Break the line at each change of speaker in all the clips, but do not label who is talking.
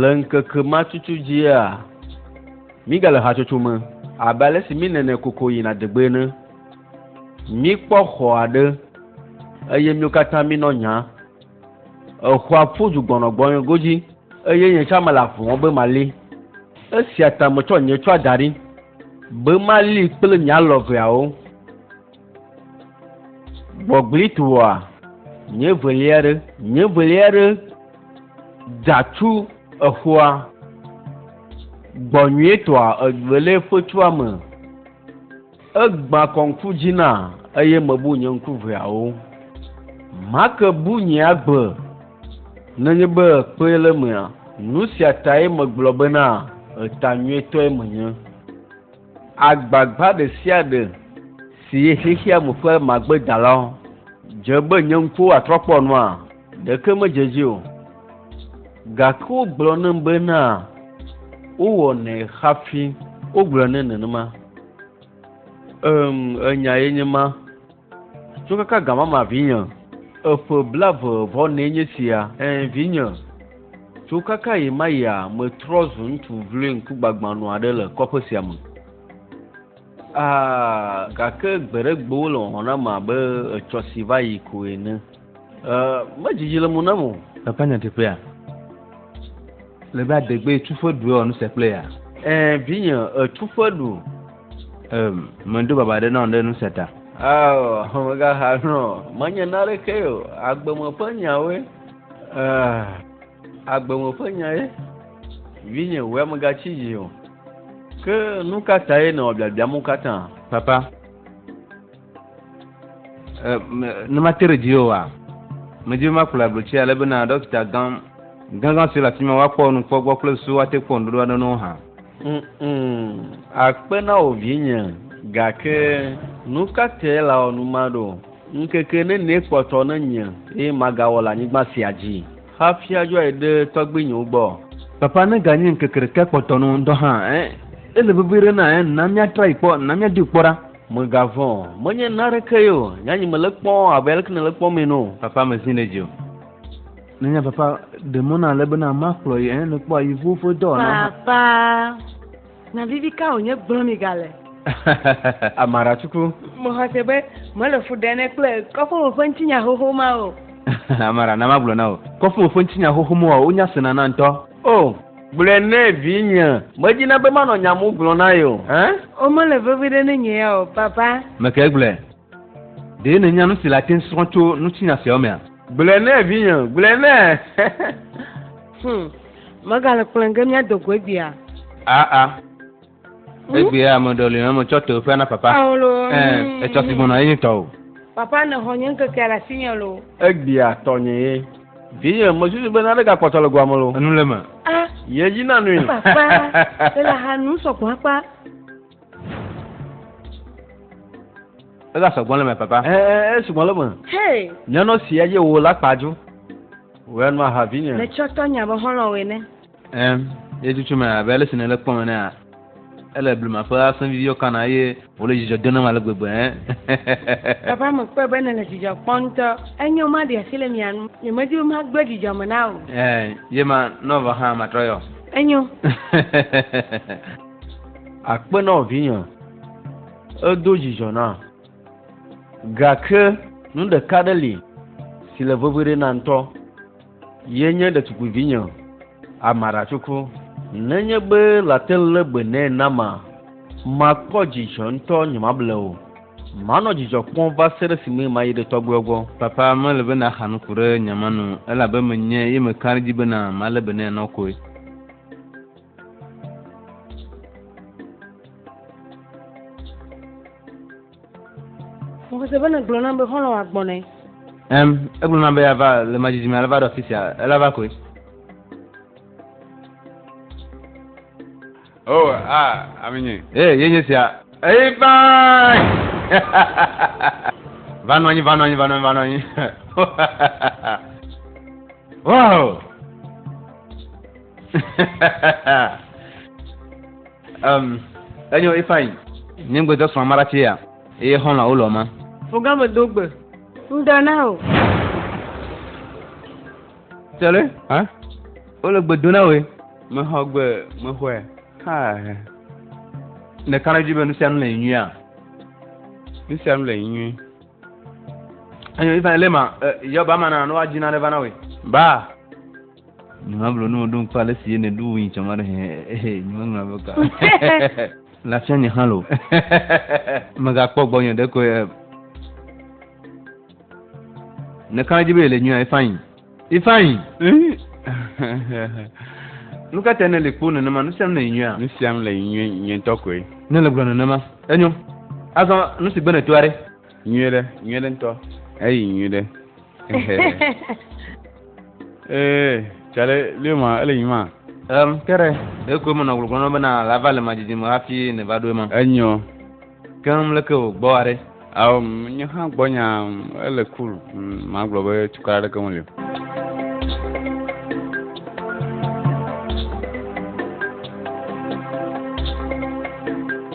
Le ŋkeke ma tutu dzia, mígale hatsotso me abe ale si mínene koko yina degbe ene. Míkpɔ xɔ aɖe eye míwo katã mínɔ nya. Exɔa ƒu du gbɔnɔgbɔnɔe godzi, eye nye tsã mele avu wɔm be mali. Esia ta metsɔ nye tsɔa da ɖi be mali kple nye alɔ veawo. Gbɔgblẽe toa, nye velia ɖe, nye velia ɖe da tsu exɔa gbɔ nyuietɔa evelia ƒe tsua me. Egbã kɔ ŋku dzi na eye mebu nye ŋku ʋeawo. Make bu nye agbe nenye be kpee le emea. Nu sia tae megblɔ bena eta nyuitɔe menye. Agbagba ɖe sia ɖe si ye xexea me ƒe magbedala dze be nye ŋkuwo atrɔ kpɔ nua, ɖeke medze edzi o. Gake wogblɔ nam bena wowɔnɛ hafi wogblɔ nɛ nenema. Em, enya ye nye ma. Tso kaka gã mama vinye. Eƒe blave vɔ nɛ nye sia. Ẽ, vinye. Tso kaka ɣi ma ɣia, metrɔ zu ŋutsu vloe ŋkugbagbãnu aɖe le kɔƒe sia me. Aa, gake gbeɖegbewo le wɔwɔ nam abe etsɔ si va yi ko ene. Medzidzi le mo nam o. Papa nya teƒea.
Le be adegbe etuƒe ɖu ewɔ nu se kple ya. Ɛɛ vinye
etuƒe ɖu. Ɛm
medo baba ɖe na ɔɖe nu se ta. Ao megaha
nɔ menye na ɖeke o agbeme ƒe nyawoe. Ɛɛ agbeme ƒe nyae. Vinye wea megatsi dzi o. Ke nu ka tae nɔ biabiam wo katã? Papa.
ne ma te ɖe dzi o wa medzi ma kplɔ ablotsi ale bena dɔkita gã gãgã si le afi ma woakpɔ nu kpɔ gbɔ kple susu woate kpɔ nuɖoɖo aɖe no hã akpe
na wò vinye gake nu ka te la wɔ nu ma ɖo ŋkeke nenie kpɔtɔ ne nye eye magawɔ le anyigba sia dzi hafi adzɔe ɖe tɔgbuinyewo gbɔ papa ne ganye
ŋkeke ɖeka kpɔtɔ nu ŋdɔ hã eh ele vevi ɖe na eh na míatra yi kpɔ na míadui kpɔ ɖa Mègavɔ̃ o,
menye nanekee o. Nye anyi mele kpɔm abe aleke nèle kpɔm ene o. Papa mezi nɛ dzi o.
Nènya papa, ɖe mɔ na ale bena makplɔ yi, ẽ, nèkpɔa yi ŋuwo ƒe dɔ wɔna hã. Papa,
nya vivi ka wònye gblɔm mìgale?
Amaracuku. Mexɔse
be mele fu ɖem ne kple kɔƒe me ƒe ŋutinya xoxo ma o. Amara, na
magblɔ na wò. Kɔƒe me ƒe ŋutinya xoxo mawoa, wonya sena na ŋutɔ. O! Gblɔe
nɛ vinye. Medina be manɔ nya mu gblɔ na ye o hein. O mele vevi
ɖe ne nye ya o papa. Mekae gblɔe?
Ɖe nènya nusi le ate srɔ̃ tso nutsinya siawo mea? Gblɔe nɛ vinye,
gblɔe nɛ. Hum,
megale kplɔe ge míado go egbea. Aa.
Egbea ame ɖewo li ame tsɔ to ƒea na papa. Ɛ etsɔ si gbɔna ye tɔ o. Papa ne xɔ nye
ŋkekea le asi nye lo. Egbea tɔnye
ye. Vinye me susu be nane ga kpɔtɔ le goa me lo. Enu le me. A.
Ye dzi na
nui. Papa le
la ha nu sɔgbɔn akpa.
Ega sɔgbɔn le me papa. Ɛ ɛ ɛ sɔgbɔn le me.
Hey. Nyɔnɔ si ye wo la kpa ju. Wɛ nua ha vinye. Ne tsɔ tɔ nya be xɔlɔ
wɛ ne. Ɛ̃, ye
tutu me abe ale si nèle kpɔm enea, ele blema ƒe asẽ viviwo kana eye wòle dzidzɔ dom nam ale gbegbe.
Papa, mekpɔe be nèle dzidzɔ kpɔm ŋutɔ. Enyo, maɖi asi le mia nu. Nyemedi be magblẽ dzidzɔ me na wò. Ɛ̃, ye ma,
nɔ vɔ hã, matrɔ yɔ. Enyo.
Akpe na wò, vinye. Edo dzidzɔ nam. Gake nu ɖeka aɖe li si le veve ɖe nam ŋutɔ. Ye nye ɖetukuivinye, amaratsoko. Nenye be late lé gbe nɛ nama, makpɔ dzidzɔ ŋutɔ nyemable o. Manɔ dzidzɔ kpɔm va se ɖe esime mayi ɖe tɔgbuiɔ gbɔ. Papa, mele be nàxa
nuku ɖe nye ame nu o, elabe menye ye meka ɖe edzi bena malé be nɛ nɔ koe.
Mose bene gblɔ nam be xɔlɔ agbɔn nɛ. Ɛm, egblɔ
nam be yava le madzidzi me alava ɖe afi sia, ela va koe.
O, oh, a, ah, ami nye. Ee, eh, ye nye sia.
Eyi baa! Va nɔ anyi, va nɔ anyi, va nɔ anyi, va nɔ anyi. Wow! Um, enyo ifeanyi. Nye ŋgbe dɔ srɔ̃ amara tse ya, eye xɔlɔ awo lɔ ma. Ɔga me do gbe.
Ŋdɔ na o.
Tsɛlɛ, hã? Wole gbe do na woe. Mexɔ gbe, mexɔe. Ha. Ne kare dzi be nu sia nu le nyuia. Nu
sia nu le nyui.
Enyo ifeanyi lema, eh, yɔ ba ma na, no wa dzi na ɖe va na woe. Ba. Nyemagblɔ ne woɖo ŋkɔ ale si ye nèɖo wui tsɔ ma ɖe hẽ nyemeŋlɔ be ka. Lafia nye hã lo. Megakpɔ gbɔnye ɖekoe. Nèka edzi be yele nyuia Ifeanyi. Ifeanyi. Nu ka tae nèle kpo nenema nu siam le nyuia? Nu siam le nyuie
nye ŋutɔ koe. Nèle gblɔ nenema.
Enyo. Azɔ nu si gbe nètoa ɖe? nyuie ɖe nyuie
ɖe ŋutɔ eyi nyuie ɖe ee tsale lio ma ele nyi ma um, ke ɖe
ɖeko menɔ gbɔgblɔ nɔ bena lava le madzidzi me hafi ne va ɖo ema enyɔ
keŋ
leke wògbɔ aɖe ao nye
hã gbɔ nya ele cool magblɔ be tukɔ aɖeke meli o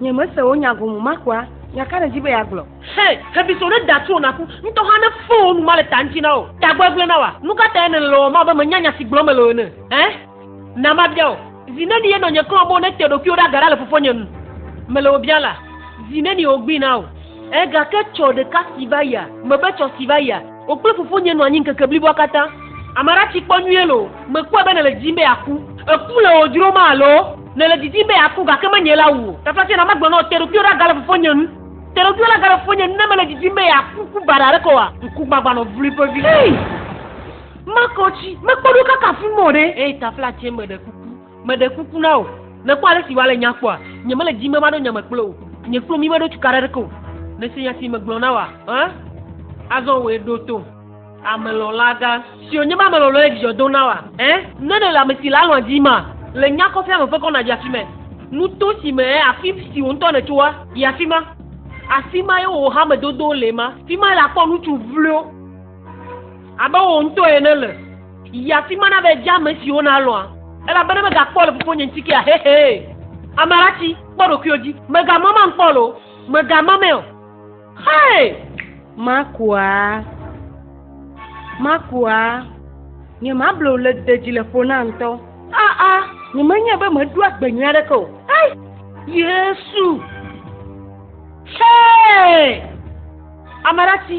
Nye mese wò nya gome ma kua? Nya ka nèdi be yeagblɔ? Hɛ, xebiso ɖe da tso wò naku, ŋutɔ hã ne fɔ wò nu male ta ŋuti na wò. Tagbegblẽ na wòa? Nu ka tae nèle le wɔwɔm abe mènya nya si gblɔm mele o ene? Ẽ? Na mabia wò. Zi neni ye nɔnye klɔ be wonete ɖokuiwo ɖe aga ɖa le fofonye nu? Mele wò biam la, zi nenie wogbui na wò? Ẽ, gake tsɔ ɖeka si va yia, mebe tsɔ si va yia. Wò kple fofonye nɔ anyi ŋkeke bliboa katã. Ame aɖe atsi kpɔ nyuie loo, mèkpɔe be nèle didim be yeaku. Eku le wò dzrom alo? Nèle didim be yeaku, gake menye la wu o. Taflatse na magblɔ na wò, Te ɖokuiwò ɖa gale fofonye ŋu. Te ɖokuiwò ɖa gale fofonye ŋu ne mele didim be yeaku ku baɖa aɖeke oa? Ŋkugbagbã nɔ vloe ƒe vi. Hee! Makɔ tsi, mekpɔ ɖo kaka afi ma o ɖe! Hee, taflatse, meɖe kuku. Meɖe kuku na wò, nèkpɔ ale si wòale nya kpɔa? Nyemele dim be maɖo nya me kple wò. Nye kple mí meɖo tukaɖa aɖeke o. Nèse nya si megblɔ na wòa? Ẽ? Azɔ wòe ɖo tom. Amelɔ̃lagã, si wònye be ame lɔlɔ̃e dzidzɔ dom na wòa? Ẽ? Ne nèle ame si le alɔ̃a dimaa, le nya kɔfɛ me ƒe kɔna dzi afi mae. Nuto si me, ẽ, afi si wò ŋutɔ nètsoa, yi afi ma. Afi mae wò hamedodowo le ema. Fi mae le akpɔ ŋutsu vloewo. Abe wò ŋutɔ ene le. Yi afi ma na be dze ame siwo nalɔ̃a. Elabena megakpɔ le fofonye ŋuti kea? Hehee. Ame aɖatsi, kpɔ ɖokuiwò dzi. Mègama mam kpɔ loo. Mègama mɛ o. Xee! Makua? Makua? Nye mable wò le de dzi le ƒo na ŋutɔ. Aa, nye menyae be meɖo agbe nyui aɖeke o. Ai! Yesu! Xee! Ame aɖatsi.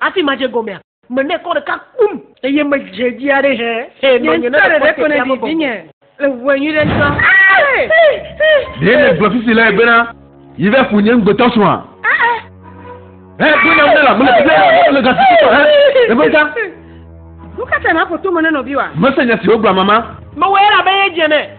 Hafi madze egɔmea, mene kɔ ɖeka kpum. Eye medze edzi aɖe hẽ. Nye ŋutɔ ɖeɖe ko nèɖi vinye le ʋu enyi ɖe ŋutɔ. Ɖe nègblɔ fifi lae bena, Yi va ƒo nye ŋugbetɔsrɔ̃a? He ɖo nam ne la, mele fifia ne wòaɖo le gasi tutɔ he ɖe ƒe ta. Nu ka tae nàƒo tome na nɔviwòa? Mese nya si wògblɔ amama. Mewɔe elabe yedze eme.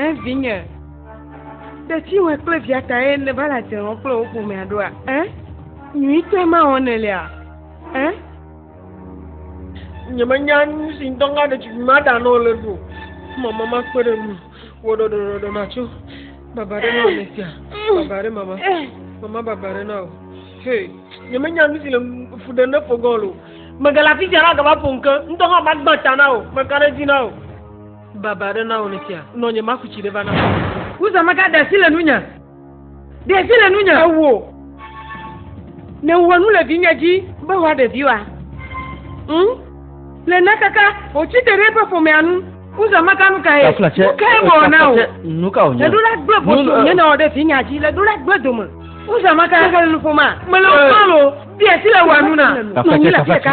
Ẽ, vinye. Tetiwɔe kple via tae nèva le adzre wɔm kple wò ƒomea ɖoa? Ẽ, nyuitɔe ma wɔm nèlea? Ẽ, nyemenya nu si ŋdɔ ŋa ɖetugbui ma ɖa nɔ le ɖo mama makpe ɖe nu wò ɖɔɖɔɖɔɖɔ natso baba ɖe na ame sia baba ɖe mama mama baba ɖe na o he nyemenya nu si le fu ɖe ne fogɔn lo megala fi sia na gava ƒo ŋke ŋdɔ ŋa magba ta na o meka ɖe dzi na o Baba aɖe na wò ne fia. Nɔ nye maku tsi ɖe va na. Uza maka ɖe asi le nunya. Ɖe asi le nunya. Ewo. Ne wɔ nu le vinye dzi. Be wɔ ɖe viwa. Ŋ. Le na kaka. O tsi te ɖe eƒe ƒomea nu. Uza maka nu ka ye. Tafla tse. Nu ka ye wɔ na o. Nu ka o nye. Le ɖo la
gbe bɔtɔ. Nye
na wɔ ɖe vinya dzi. Le ɖo la gbe dome. Uza maka. Mele nuƒoma. Mele nuƒoma lo. Ɖe asi le wɔ nu na. Tafla tse tafla tse.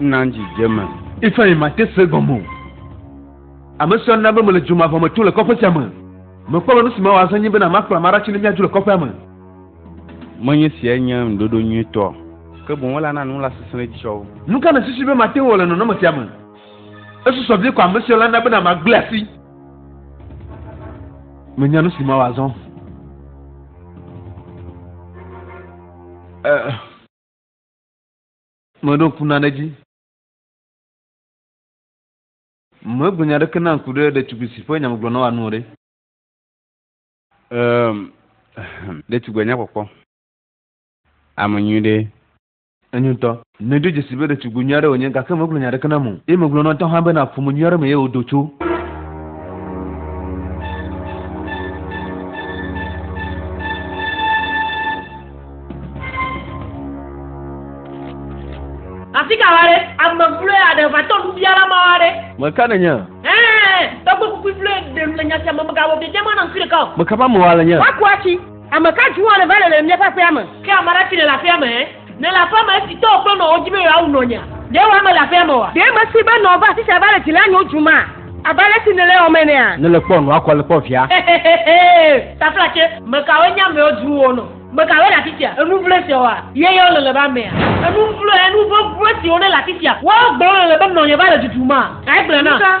Na dzidzeme. Ifeanyi mate
se gɔme o. Ame sia na be mele dzomavɔ me tom le kɔƒe sia me. Mekpɔ be nu si mawɔ azɔ nye bena makplɔ ame aɖe tsi ne míadzo le kɔƒea me.
Menye siae nye ŋuɖoɖo nyuitɔ o, ke boŋ elana nu la sesẽɖedzi tsɔ wu. Nu ka nèsusu be mate
ŋu awɔ le nɔnɔme sia me? Esusɔ vie ko ame sia la na bena magblẽ asi. Menya nu si mawɔ azɔ. Eh, meɖo ŋku nane dzi. Megblɔ nya aɖeke na ŋku ɖe ɖetugbui si ƒe nyamegblɔ na wòanu o ɖe.
Um, ɖetugbui nyakpɔkpɔ, ame nyui ɖe. Enyo ŋutɔ.
Nedo dzesii be ɖetugbi nyui aɖe wònye, gake megblɔ nya aɖeke nam o, eye megblɔ na etɔ hã bena ƒome nyui aɖe me ye wòdo tso.
Asi ka va ɖe? Ame vloe aɖe va tɔ nubiala mawo aɖe. Ŋmɛ ka nènye? Ɛ̃,
tɔgbekpukpui
vloe ɖe nu le nya sia me, mègawɔ biabiama nam fi ɖeka o. Meka ƒe amewoa le nye? Woaku
atsi. Ame ka
dzi woane va le le míaƒe aƒea me? Ke ame aɖe si nèle aƒea me? Nèle aƒea me esi tɔwò kple nɔwò di be yewoawu nɔnyea? Ɖe wò ame le aƒea me oa? Ɖe mesee be nɔwò va afisia va le dzi lém nyo dzum maa? Abe ale si nèle ewɔm enea? Nèle kpɔ nɔa kɔ le kpɔ
via? Hehehehee!
Taflatse, me kawoe nye amewo dzru wò nɔ? Me kawoe le afisia? Enu vloe siawoa? Ye yewo le le be amea? Enu vloe, enu vɔvɔe siwo nele afisia? Woawo gblẽ le le be nɔnye va le dudum maa? Egblẽ na.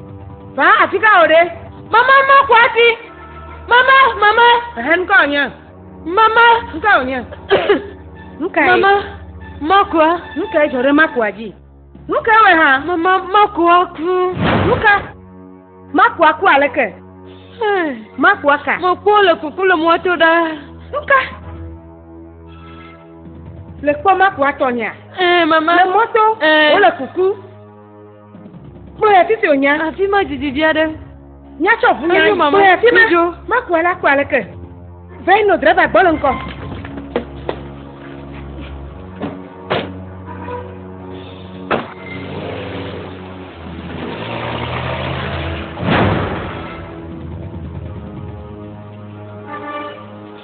Ba afi ka o ɖe? Mama ma kɔ afi. Mama, mama. Ehe nuka wònye? Mama. Nuka wònye? Nuka ye? Mama, makua. Nuka ye dzɔ ɖe makua dzi? Nuka wòe hã? Mama, makua ku. Nuka? Makua ku aleke? Makua ka? Makua le kuku le mɔto ɖa. Nuka? Le kpɔ makua tɔnyea? Ɛɛ, mama. Le mɔto. Ɛɛ. Wole kuku. Kpɔe afi si wònya. Afi ma didi vi aɖe. Nya tsɔ ʋu nya. Kpɔe afi ma. Makua la kpɔ aleke. Vɛno drɛva gbɔ le ŋkɔ.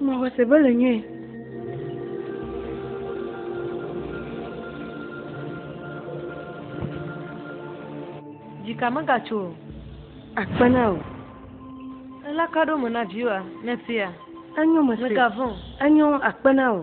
Mexɔse be le nyuie. Dzika megatso o. Akpe na wò. Elakaɖome na viwòa, nèsea? Enyo, mesea. Mègavɔ̃ o. Enyo, akpe na wò.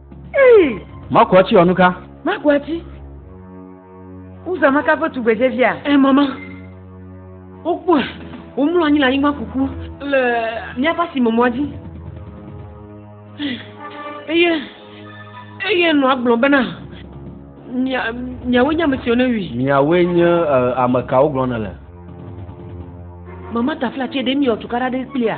Makuati wɔ nuka? Makuati?
Uzamaka ƒe tugbedzevia? Ɛ, mama.
Wokpɔe. Womlɔ anyi le anyigba kuku le míaƒe asimemɔa dzi. Eye, eye nɔ agblɔ bena, miawoe nye ame siwo newui. Miawoe nye
ame kawo gblɔ nele? Mama
taflatse ɖe miewɔ tukaɖa ɖe kplia?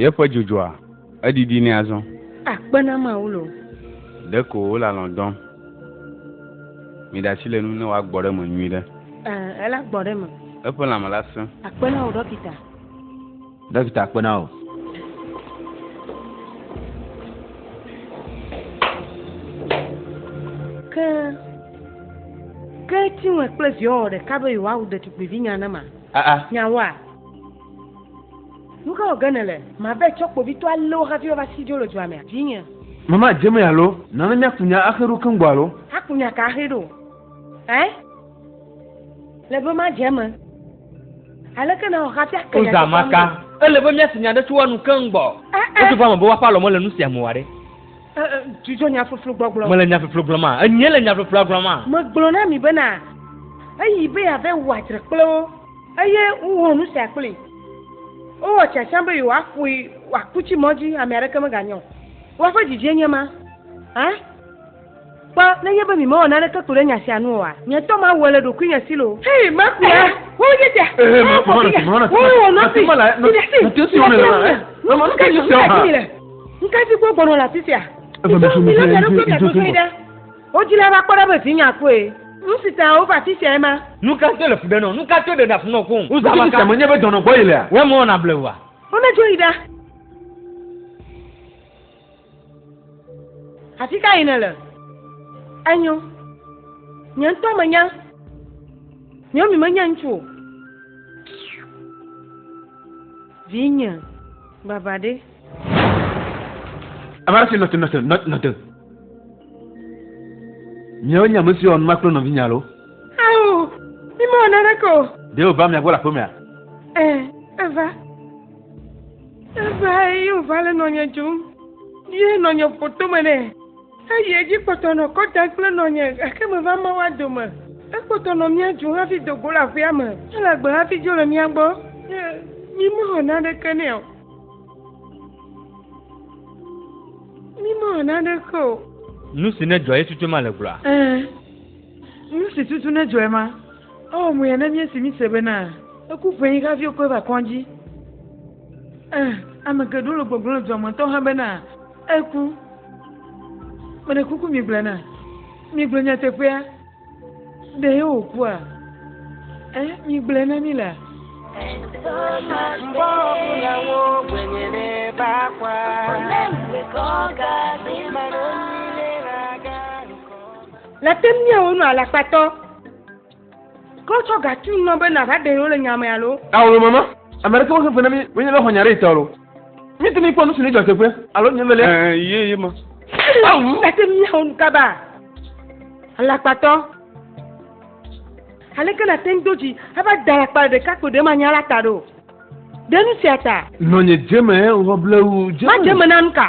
Yeƒe dzodzɔa, edidi nɛ azɔ. Akpe na Mawu
loo. Ɖeko
wole alɔ̃ dɔm. Miɖe asi le enu ne wòagbɔ ɖe eme nyuiɖe. Ɛɛ, ela gbɔ ɖe
eme. Eƒe lãme la sẽ.
Akpe na wò ɖɔkita.
Ɖɔkita kpe na wò.
Ke, ke Chinwe kple viawo wɔ ɖeka be yewoawu ɖetugbuivi nya ne ma. Aa. Ah, ah. Nyawoa? Nu ka wɔ ge nèle? Mabe tsɔ kpovitɔ alé wo hafi woava si dzo le dua mea? Vinye. Mama, dze me
alo? Nana míaku nya axe ɖo keŋ gbɔ alo? Aku nya ka axe ɖo?
Ɛ? Le be ma dze me. Aleke na ɔxa fia ke. Oza ma ka. Ele
be mia si nya ɖe tso wa nu keŋ gbɔ. Eh, eh. Eto va me be wa fa lɔ me le nu sia mu wa ɖe. Eh, Dzudzɔ
nya floflo gbɔgblɔ. Me le nya floflo gblɔ ma.
Enye le nya floflo gblɔ ma. Me gblɔ na mi be na.
Eyi be ya ve wa dre kple wo. Eye wo nu sia kple. Wo wɔ tsa tsa be yo wa fui wa kutsi mɔdzi ame areke me ga nyɔ. Wa fe dzidzie nye ma. Eh? Kpɔ, nenye be mimewɔ naneke ko ɖe nya sia nu oa, nye tɔ mawɔe le ɖokuinye si loo. Hei, maku la, wowu nye sia, wowu fofinye,
wowu wò nɔvi,
mi ɖe asi, miɖe asi le ŋunye. Nu ka ta dim gaɖi mi le? Nu ka si kpɔ gbɔnɔ le afi sia? Mitrɔ mi lɔ mia ɖokuiwo mia dodoe ɖe wo dzi la va kpɔ ɖa be vinye akpɔe. Nu si ta wova afi siae ma. Nu ka to le fu ɖe nɔ?
Nu ka to ɖe ɖa fu nɔ koŋ? Wozã alaka. Ŋutsuvi sia menye be dɔnɔ
gbɔ yelea? Wɔ emewɔna bleua?
Womedzo yi ɖa.
Afi ka yi nèle? Enyo. Nye ŋutɔ menya. Naomi menye ŋutsu o. Vinye, baba ɖe.
Ame aɖe si nɔte, nɔte, nɔte. Miawo nye ame siwo nua kple nɔvinye alo? Ao,
mi mewɔ naneke o. Ɖe wòva mia gbɔ le
aƒemea? Ɛɛ,
eva. Evae ye wòva le nɔnye dzum, ye nɔnye ƒo tome nɛ. Eyi edzi kpɔtɔ nɔ kɔ dam kple nɔnye, gake meva mɔ woa dome. Ekpɔtɔ nɔ mía dzum hafi do go le aƒea me, ele agbe hafi dzo le mía gbɔ, ye mímewɔ naneke nɛ o. Mímewɔ naneke o. Nu si nedzɔ
ye tutu ema le gblɔa? Ẽ,
nu si tutu nedzɔ ema. Ewɔ muyɛ ne míesi míse bena eku ƒenyi hafi wokɔe va kɔdzi. Ẽ, ame geɖewo le gbɔgblɔm le dua me ŋutɔ hã bena eku. Meɖe kuku migblɔe na migblɔ nyateƒea. Ɖe yewòkua? Ẽ, migblɔe na mí la. Le te mía wo nɔ alakpatɔ. Kɔ tsɔ gatu nɔ be na va ɖe le nya me alo. Alo mama, ame
ɖe ke wo xefe na mi, mi nye lɔ xɔ nya ɖe itɔ lo. Mi te mi kpɔ nusu ni jɔ teƒe, alo nye vele. Eh, ye ye ma.
Awu. Le te
mía wo nukaba. Alakpatɔ. Ale ke na te ndo ji, ava da alakpa ɖe ka kpo ɖe ma nya la ta ɖo. Ɖe nu sia ta. Nɔ nye jeme, eh,
ŋgɔ blewu jeme. Ma jeme na nuka.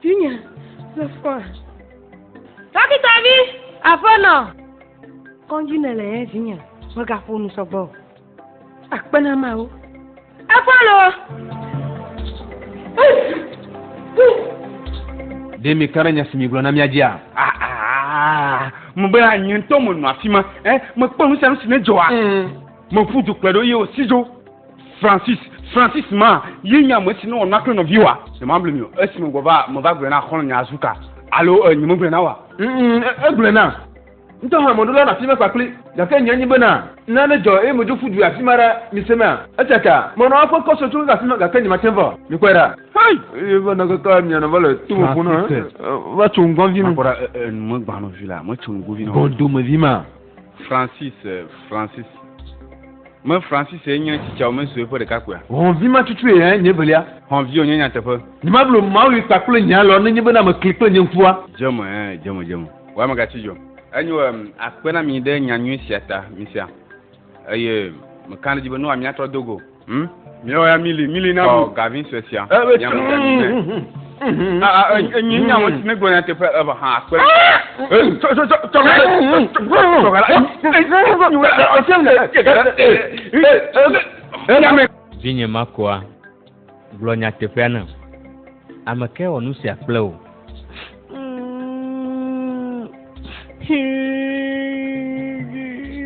Tinye le fɔ. Dɔkita vi, aƒenɔ. Kɔndzi ne le yɛ vinye, megaƒo nu sɔgbɔ. Akpe na mawo. Efɔlo.
Ɖe mi kpe ɖe nya si mi gblɔ na mía dzia? Ah, ah, ah,
mebe anyi ŋutɔ menɔ afi ma. Eh, mekpɔ nu sia nu si nedzɔa. Mm. Meƒu du kplɔe ɖo ye wòsi dzo. Francis, Francis ma ye nye ame si nɔ wɔna kple nɔviwòa? Nyemagblɔe mi o. Esi megbɔ va, meva gblɔe na xɔlɔ̃nye Azuka. Alo e, nyemegblɔe na woa? Ŋ-ŋ, e, egblɔe nam.
Ŋutɔ hã mɔɖola nɔ afi ma kpakpli. Gake nye nyi bena, ne nane dzɔ eye medzo ƒu du yi afi ma ɖa, misemea? Esia ta, menɔ eƒe kɔ sue tso keke afi ma, gake nyemate vɔ. Mikpɔe ɖa. Hay! Eye va nɔ keke amianɔ va le to me ƒuna, va tso ŋgɔvi na. Makpɔ ɖa, e, e, nu megbã
nɔ vi la, metso ŋgɔvi na wo. Bɔdomevi ma. Francis eh, Francis me Francis ye nye tsitsa me sue ƒe ɖeka kpea. Hɔnvi ma tutu ye
nye velia. Hɔnvi wonye nyateƒe.
Nyemablo Mawu yi
kpa kple nye alɔ nenye bena mekli kple nye ŋkua. Dzeme eh, dzeme dzeme.
Wa ame gatsi dzɔ. Enyo em akpe na mi ɖe nya nyui sia ta, misia. Eye mekana ɖe dzi be nua miatrɔ dogo. Hmm? Mìlɔ ya mili mili na mi. Ɔ gavi sue sia. Ɛ bɛ tún. Aa enyi nya wɔn ti ne gblɔ na teƒe eva hã akpe. Tɔ tɔ tɔ tɔ ka tɔ
ka la. Vinye Marcoa, gblɔ nyateƒea nam. Ame kae wɔ nu sia kple wò?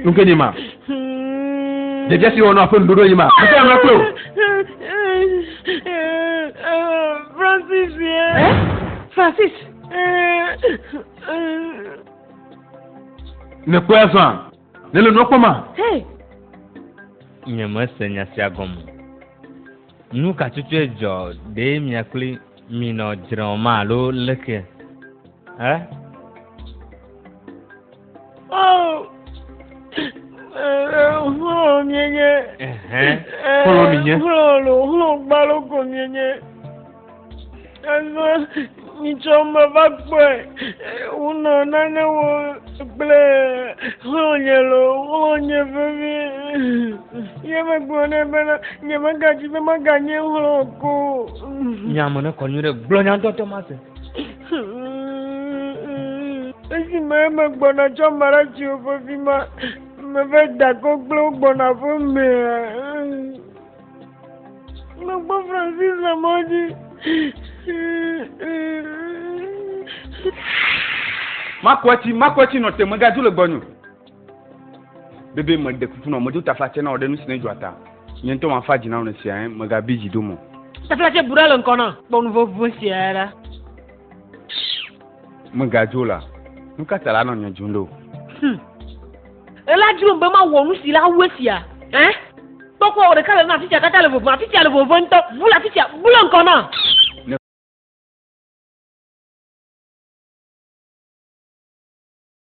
Nuke ni ma. Dzedze si wɔnɔ aƒe nuɖoɖo yi ma. Ete ame kple wò.
Francis ye. Eh? Francis.
Nekpɔe azɔa? Nele nua kpɔma? Hey.
Nyemese nya sia gɔme. Nu ka tutue dzɔ ɖe mia kple mi nɔ dzrɔ̃ ma alo leke? Ɛ?
Xlɔ̃ mienye.
Xlɔ̃ mienye. Xlɔ̃ lo, xlɔ̃ gbalo
ko mienye. Azɔ mitsɔ me va kpɔe. Wonɔ nane wɔ kple xlɔ̃nye lo, xlɔ̃nye vevi. Ye megblɔ nɛ bena nyemegadzi be maganye xlɔ̃ ko. Nya me
ne kɔ nyui ɖe gblɔ nyadɔdɔ ma se.
Esime megbɔna tsɔ Maratio vevi ma, meve da kɔ kple wo gbɔna ƒe mea. Mekpɔ Francis le mɔ dzi.
Makwetsi, makwetsi nɔ te megadu le gbɔnyo. Bebe me de kuku nɔ medo tafla tsɛ na wɔ ɖe nu si ne dzɔa ta. Nye ŋutɔ ma fa dzi na wɔ ne sia ŋu megabi dzi do mɔ. Tafla tsɛ bu ɖa le
ŋkɔ na kpɔ nu vovo sia ɖa.
Megadzo la, nu ka ta la nɔ nye dzum ɖo?
Hmm. Ela dzrom be mawɔ nu si la wu esia. Eh? Kpɔkpɔ wɔ ɖeka le na afisia katã le vovo, afisia le vovo ŋutɔ, bu le afisia, bu le ŋkɔ na.